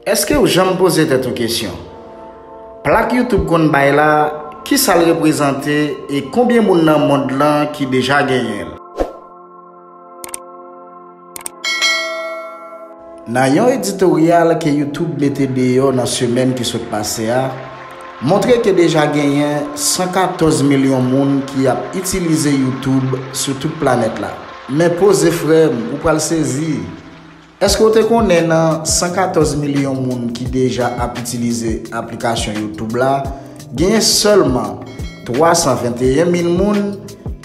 Eske ou janm poze tèt ou kesyon, plak YouTube konn bay la, kisa l reprezante e konbyen moun nan mond lan ki deja genyen l? Nan yon editoryal ke YouTube mete deyò nan semèn ki sot pase a, montre ke deja genyen 114 milyon moun ki ap itilize YouTube sou tout planèt la. Men poze frè m, ou pral sezi! Èske w te konnen nan 114 milyon moun ki deja ap itilize aplikasyon YouTube la, genyen sèlman 321 mil moun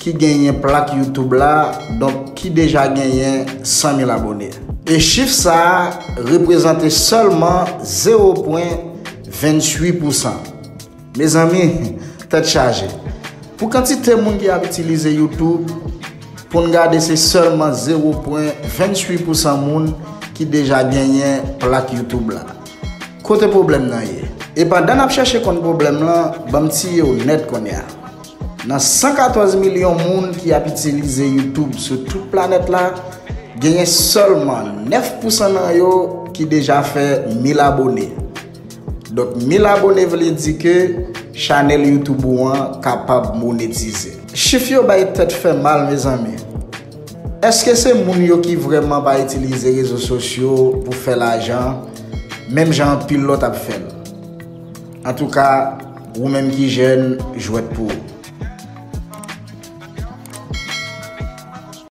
ki genyen plak YouTube la, donk ki deja genyen 100 mil abone. E chif sa a reprezante sèlman zewo pwen 28 pousan. Mezanmi tèt chaje pou kantite moun ki ap itilize YouTube poun gade se sèlman zewo pwen 28 pousan moun ki deja genyen plak YouTube la kote pwoblèm nan ye? E pandan nap chèche konn pwoblèm lan banm tiyew nèt konnya nan 114 milyon moun ki ap itilize YouTube sou tout planèt la genyen sèlman 9 pousan nan yo ki deja fè 1000 abone. Donk 1000 abone vle di ke chanèl youtube ou an kapab monetize. Chif yo bay tèt fè mal mezanmi. Eske se moun yo ki vrèman pa itilize rezo sosyo pou fè lajan menm jan anpil lòt ap fèl. Antouka wou menm ki jèn jwèt pou ou.